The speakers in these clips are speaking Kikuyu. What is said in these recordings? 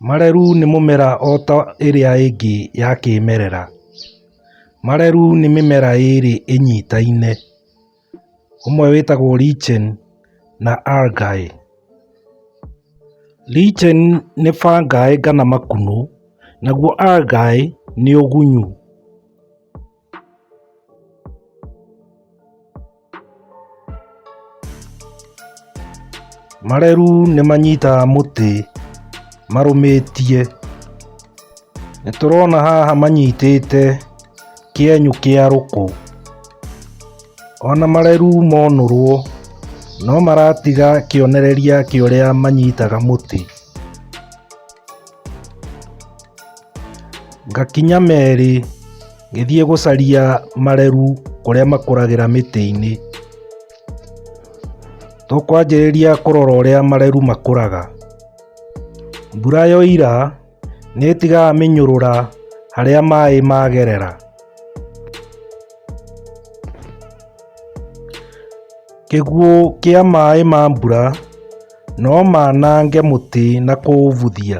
Marerũ nĩ mũmera o ta ĩrĩa ĩngĩ ya kĩmerera. Marerũ nĩ mĩmera ĩrĩ ĩnyitaine. Ũmwe wĩtagwo lichen na algae. Lichen nĩ fungi kana makunũ, naguo algae nĩ ũgunyu. Mareru nĩ manyitaga mũtĩ marũmĩtie. Nĩ tũrona haha manyitĩte kĩenyũ kĩa rũkũ. Ona mareru monũrwo no maratiga kĩonereria kĩa ũrĩa manyitaga mũtĩ. Ngakinya merĩ, ngĩthiĩ gũcaria mareru kũrĩa makũragĩra mĩtĩ-inĩ. Tũkwanjĩrĩria kũrora ũrĩa mareru makũraga. Mbura yoira, nĩ ĩtigaga mĩnyũrũra harĩa maĩ magerera. Kĩguũ kĩa maĩ ma mbura no manange mũtĩ na kũũbuthia.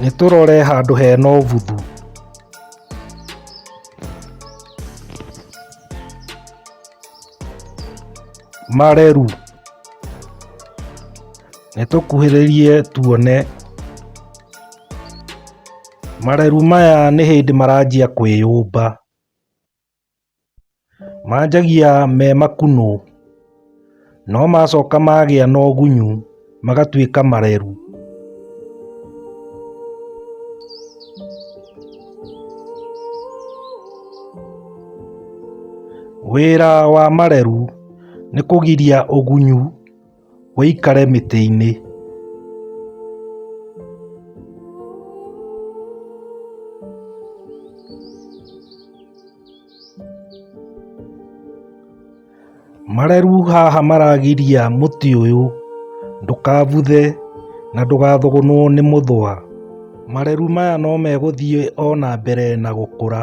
Nĩ tũrore handũ hena ũbuthu. Mareru. Nĩ tũkuhĩrĩrie tuone. Mareru maya nĩ hĩndĩ maranjia kwĩyũmba. Manjagia me makunũ, no macoka magĩa na ũgunyu magatuĩka mareru. Wĩra wa mareru nĩ kũgiria ũgunyu. ũikare mĩtĩinĩ. Mareru haha maragiria mũtĩ ũyũ ndũkabuthe na ndũgathũgũnwo nĩ mũthũa. Mareru maya no megũthiĩ o na mbere na gũkũra.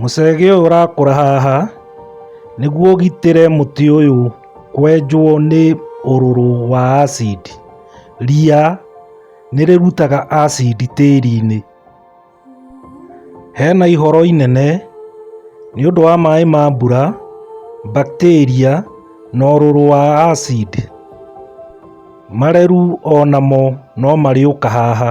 Mũcege ũyũ ũrakũra haha nĩguo ũgitĩre mũtĩ ũyũ kwenjwo nĩ ũrũrũ wa acid. Ria nĩ rĩrutaga acid tĩri-inĩ. Hena ihoro inene nĩ ũndũ wa maĩ ma mbura, bacteria na ũrũrũ wa acid. Mareru onamo no marĩũka haha.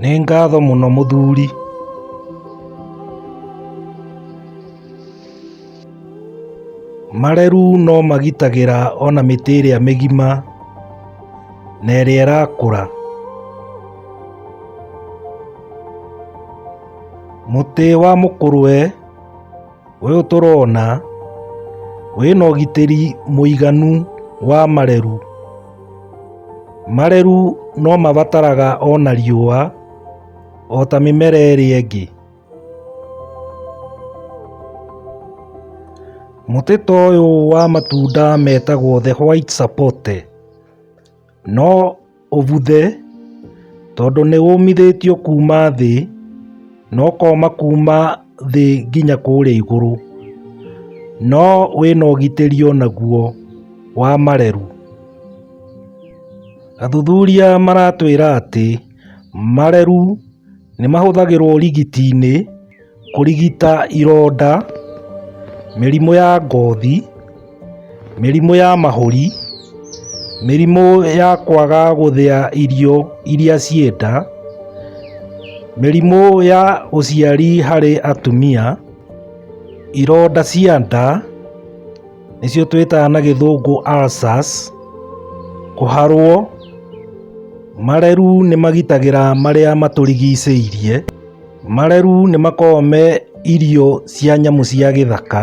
Nĩ ngatho mũno mũthuri. Marerũ no magitagĩra ona mĩtĩ ĩrĩa mĩgima na ĩrĩa ĩrakũra. Mũtĩ wa mũkũrwe. Ũyũ tũrona wĩna ũgitĩri mũiganu wa mareru. Mareru no mabataraga ona riũa ota mĩmera ĩrĩa ĩngĩ. Mũtĩ ta ũyũ wa matunda metagwo the white sapote. No ũbuthe, tondũ nĩwũmithĩtio kuuma thĩ, na ũkooma kuuma thĩ nginya kũũrĩa igũrũ, no wĩ na ũgitĩri o naguo wa mareru. Athuthuria maratwĩra atĩ mareru... Nĩ mahũthagĩrwo ũrigiti-inĩ kũrigita ironda, mĩrimũ ya ngothi, mĩrimũ ya mahũri, mĩrimũ ya kwaga gũthĩa irio iria ciĩ nda, mĩrimũ ya ũciari harĩ atumia, ironda cia nda. nĩcio twĩtaga na gĩthũngũ ulcers kũharwo mareru nĩ magitagĩra marĩa matũrigicĩirie mareru nĩ makoragwo me irio cia nyamũ cia gĩthaka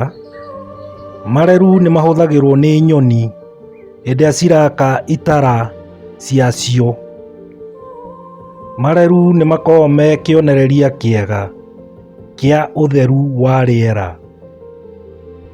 mareru nĩ mahũthagĩrwo nĩ nyoni hĩndĩ ĩrĩa ciraka itara ciacio mareru nĩ makoragwo me kĩonereria kĩega kĩa ũtheru wa rĩera.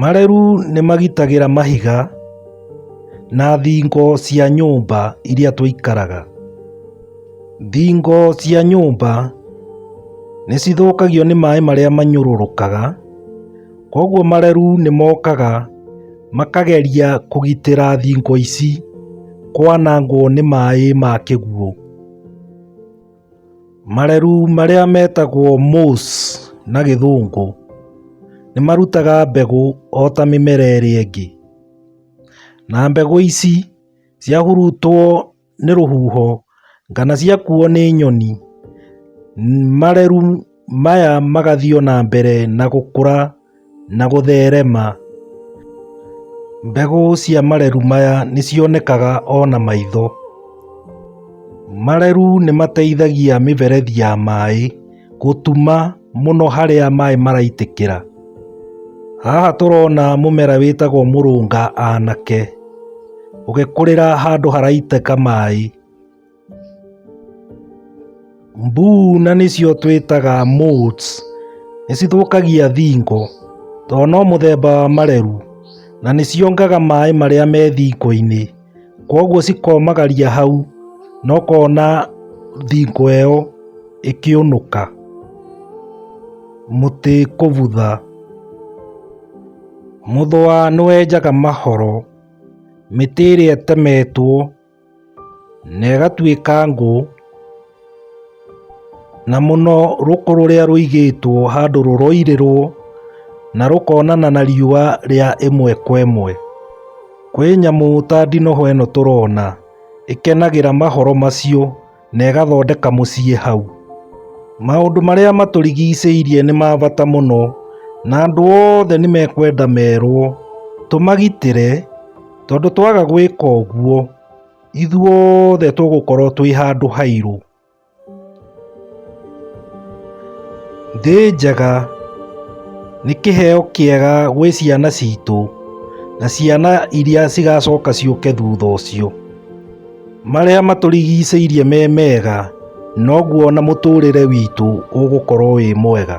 Marĩru nĩ magitagĩra mahiga na thingo cia nyũmba iria tũikaraga. Thingo cia nyũmba nĩ cithũkagio nĩ maĩ marĩa manyũrũrũkaga. Koguo mareru nĩ mokaga makageria kũgitĩra thingo ici kwanangwo nĩ maĩ ma kĩguũ. Mareru marĩa metagwo moss na gĩthũngũ nĩ marutaga mbegũ o ta mĩmera ĩrĩa ĩngĩ. Na mbegũ ici ciahurutwo... nĩ rũhuho, kana ciakuo nĩ nyoni, mareu maya magathiĩ o na mbere na gũkũra na gũtherema. Mbegũ cia mareu maya nĩ cionekaga o na maitho. Mareu nĩ mateithagia mĩberethi ya maĩ gũtuma. mũno harĩa maĩ maraitĩkĩra. Haha tũrona mũmera wĩtagwo mũrũnga anake ũgĩkũrĩra handũ haraitĩka maĩ. Mbuuna nĩcio twĩtaga motes nĩcithũkagia thingo tondũ no mũthemba wa mareru na nĩciongaga maĩ marĩa me thingo-inĩ. Kwoguo cikomagaria hau, na ũkona thingo ĩyo ĩkĩũnũka, mũtĩ kũbutha. Mũthũa nĩ wenjaga mahoro, mĩtĩ ĩrĩa ĩtemetwo na ĩgatuĩka ngũ. Na mũno rũkũ rũrĩa rũigĩtwo handũ rũroirĩrwo na rũkonana na riũa rĩa ĩmwe kwa ĩmwe. Kwĩ nyamũ ta ndinoho ĩno tũrona ĩkenagĩra mahoro macio na ĩgathondeka mũciĩ hau. Maũndũ marĩa matũrigicĩirie nĩ ma bata mũno na andũ othe nĩ mekwenda merwo tũmagitĩre tondũ twaga gwĩka ũguo, ithuothe tũgũkorwo twĩ handũ hairũ thĩ njega nĩ kĩheo kĩega gwĩ ciana citũ na ciana iria cigacoka ciũke thutha ũcio marĩa matũrigicĩirie me mega noguo na mũtũrĩre witũ ũgũkorwo wĩ mwega